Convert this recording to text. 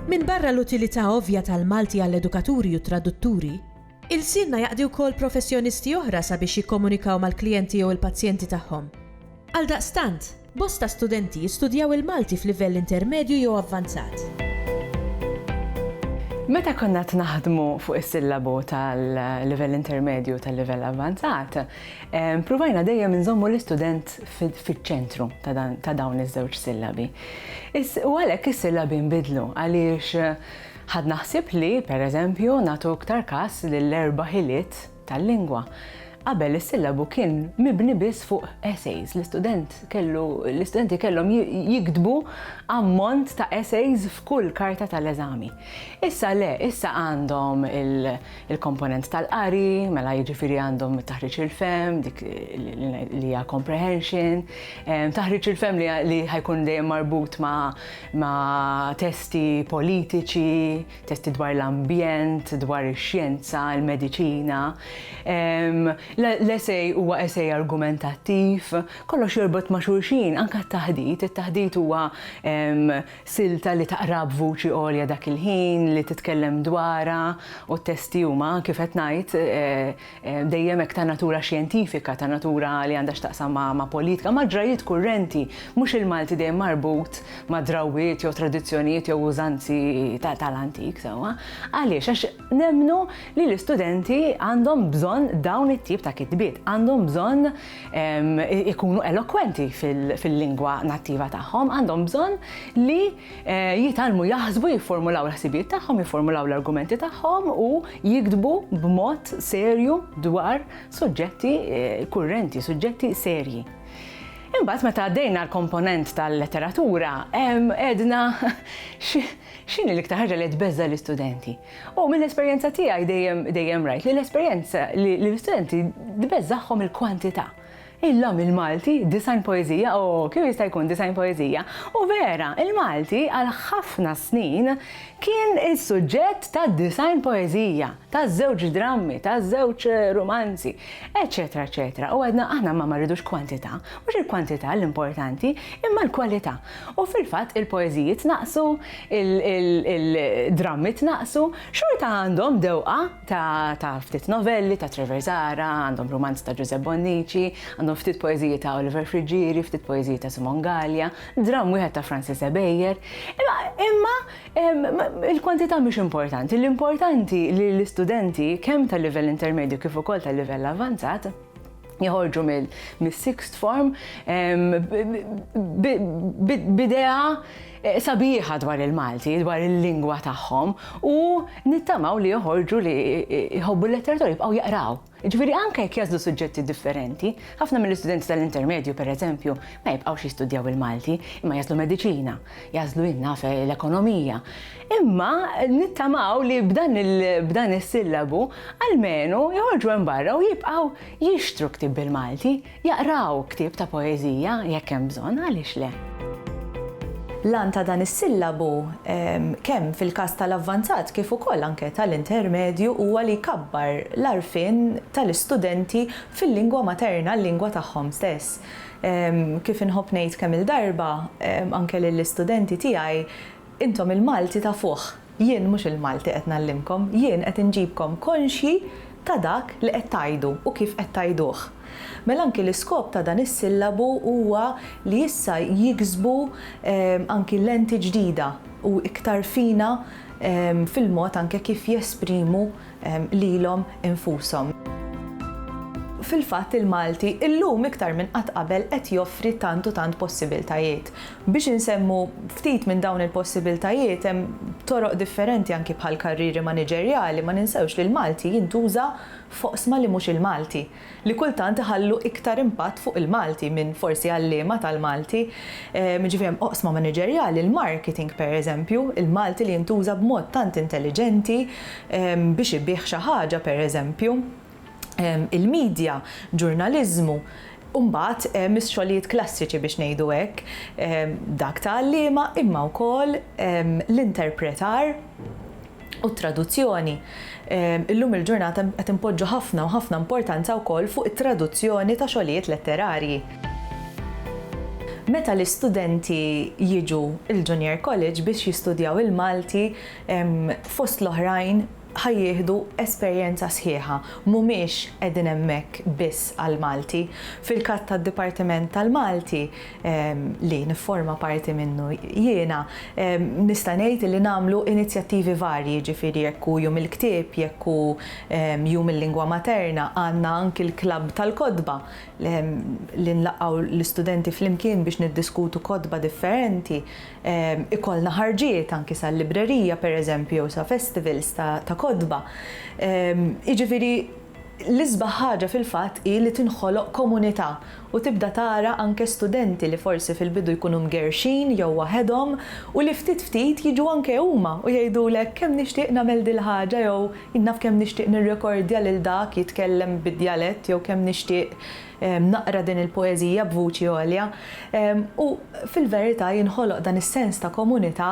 Minbarra l-utilità ovvja tal-Malti għall-edukaturi u t-tradutturi, ilsienna jaqdi wkoll professjonisti oħra sabiex jikkomunikaw mal-klijenti jew il-pazjenti tagħhom. Għaldaqstant, Bosta studenti jistudjaw il-Malti f'livell intermedju jew avvanzat. Meta konna qed naħdmu fuq is-sillabu tal-livell intermedju tal-livell avvanzat, ppruvajna dejjem inżommu l-istudent fiċ-ċentru ta' dawn iż-żewġ sillabi. U għalhekk is-sillabi nbidlu għaliex ħadna ħsieb li, pereżempju, nagħtu iktar kas lill-erba' ħiliet tal-lingwa. Qabel is-sillabu kien mibni biss fuq essays, l-istudent kellu l-istudenti kellhom jiktbu ammont ta' essays f'kull karta tal-eżami. Issa le, issa għandhom il-komponent tal-qari, mela jiġifieri għandhom it-taħriġ il-fehm, dik li hija comprehension, taħriġ il-fehm li ħajkun dejjem marbut ma' testi politiċi, testi dwar l-ambjent, dwar ix-xjenza, il-mediċina. L-esej huwa esej argumentattiv, kollox jorbot ma' xulxin, anke t-taħdit. It-taħdit huwa silta li taqra b'vuċi għolja dak il-ħin, li titkellem dwarha u t-testi huma kif qed ngħid dejjem hekk ta' natura xjentifika, ta' natura li għandha x'taqsam ma', ma' politika, ma' ġrajjiet kurrenti, mhux il-Malti dejjem marbut ma' drawwiet jew tradizzjonijiet jew użanzi ta', tal-antik sewwa. Għaliex? Għax nemmnu li l-istudenti għandhom bżonn dawn it-tip ta' kitbiet, għandhom bżonn ikunu elokwenti fil-lingwa nattiva tagħhom, għandhom bżonn li, jitgħallmu jaħsbu, jifformulaw il-ħsibijiet tagħhom, jifformulaw l-argumenti tagħhom u jiktbu b'mod serju dwar suġġetti eh, kurrenti, suġġetti serji. Imbagħad meta għaddejna l-komponent tal-letteratura, edna x'in l-iktar ħaġa li tbeżża l-istudenti. U mill-esperjenza tiegħi dejjem dejjem rajt li l-esperjenza li l-istudenti tbeżżaħħom il-kwantità Illum il-Malti disgħin poeżija, o, kemm jista' jkun disgħin poeżija? U vera, il-Malti għal ħafna snin kien is-suġġett ta' disgħin poeżija, ta' żewġ drammi, ta' żewġ rumanzi, eċċetera eċċetera. U għedna aħna ma ma rridux kwantità, mhux il-kwantità l-importanti, imma l-kwalità. U fil-fatt il-poeżiji tnaqqsu, il-drammi tnaqqsu, xorta għandhom dewqa. Ta' ta' ftit novelli ta' Trevor Zahra, għandhom rumanzi ta' Ġużepp Bonnici, għandhom ftit poeżiji ta' Oliver Friggieri, ftit poeżiji ta' Simon Gallia, dramm wieħed ta' Francis Ebejer. Imma, imma ehm, il-kwantità mhix importanti, l-importanti li l-istudenti kemm tal-livell intermedju kif ukoll tal-livell avvanzat joħorġu mis-sixth form b'idea eh, sabiħa dwar il-Malti, dwar il-lingwa tagħhom u nittamaw li joħorġu li jħobbu l-letteratura jibqgħu jaqraw. Ġifieri anke jekk jażlu suġġetti differenti, ħafna mill-istudenti tal-intermedju pereżempju ma jibqgħux jistudjaw il-Malti imma jażlu mediċina jagħżlu jien naf eh, l-ekonomija. Imma nittamaw li b'dan is-sillabu almenu joħorġu hemm barra u jibqgħu jixtru ktib bil-Malti, jaqraw ktib ta' poeżija jekk hemm bżonn għaliex le. Lan ta' dan is-sillabu ehm, kemm fil-każ tal-avvanzat kif ukoll anke tal-intermedju huwa li jkabbar l-arfin tal-istudenti fil-lingwa materna, l-lingwa tagħhom stess. Kif inħobb ngħid kemm-il darba, anke lill-istudenti tiegħi, intom il-Malti tafuh, jien mhux il-Malti qed ngħallimkom, jien qed inġibkom konxji ta' dak li qed tgħidu u kif qed tgħiduh. Mela anki l-iskop ta' dan is-sillabu huwa li issa jiksbu anki lenti ġdida u iktar fina fil-mod anke kif jesprimu lilhom infushom. Fil-fatt il-Malti illum iktar minn qatt qabel qed joffri tant u tant possibiltajiet. Biex insemmu ftit minn dawn il-possibiltajiet hemm toroq differenti anki bħall-karrieri maniġerjali, ma ninsewx li l-Malti jintuża f'oqsma li mhux il-Malti. li kultant iħallu iktar impatt fuq il-Malti minn forsi għalliema tal-Malti. Jiġifieri hemm oqsma maniġerjali, il-marketing pereżempju, il-Malti li jintuża b'mod tant intelliġenti biex ibigħ xi ħaġa pereżempju, il-midja, ġurnaliżmu, u mbagħad hemm ix-xogħlijiet klassiċi biex ngħidu hekk, dak ta' għalliema imma wkoll l-interpretar. u t-traduzzjoni. Illum il-ġurnata qed inpoġġu ħafna u ħafna importanza wkoll fuq it-traduzzjoni ta' xogħlijiet letterarji. Meta l-istudenti jiġu l-Junior College biex jistudjaw il-Malti, fost l-oħrajn ħa jieħdu esperjenza sħiħa, mhumiex qegħdin hemmhekk biss għall-Malti. Fil-każ tad-Dipartiment tal-Malti, li nifforma parti minnu jiena, nista' ngħid li nagħmlu inizjattivi varji, jiġifieri jekk hu Jum il-Ktieb, jekk hu Jum il-Lingwa Materna, għandna anki l-klabb tal-kotba li nlaqgħu l-istudenti flimkien biex niddiskutu kotba differenti, ikollna ħarġiet anki sal-librerija, pereżempju, jew sa festivals ta' kotba. Jiġifieri L-isbaħ ħaġa fil-fatt hi li tinħoloq komunità u tibda tara anke studenti li forsi fil-bidu jkunu mgerrxin jew waħedhom u li ftit ftit jiġu anke huma u jgħidulek kemm nixtieq nagħmel dil-ħaġa jew jien naf kemm nixtieq nirrekordja lil dak jitkellem bid-djalett jew kemm nixtieq naqra din il-poeżija b'vuċi għolja u fil-verità jinħoloq dan is-sens ta' komunità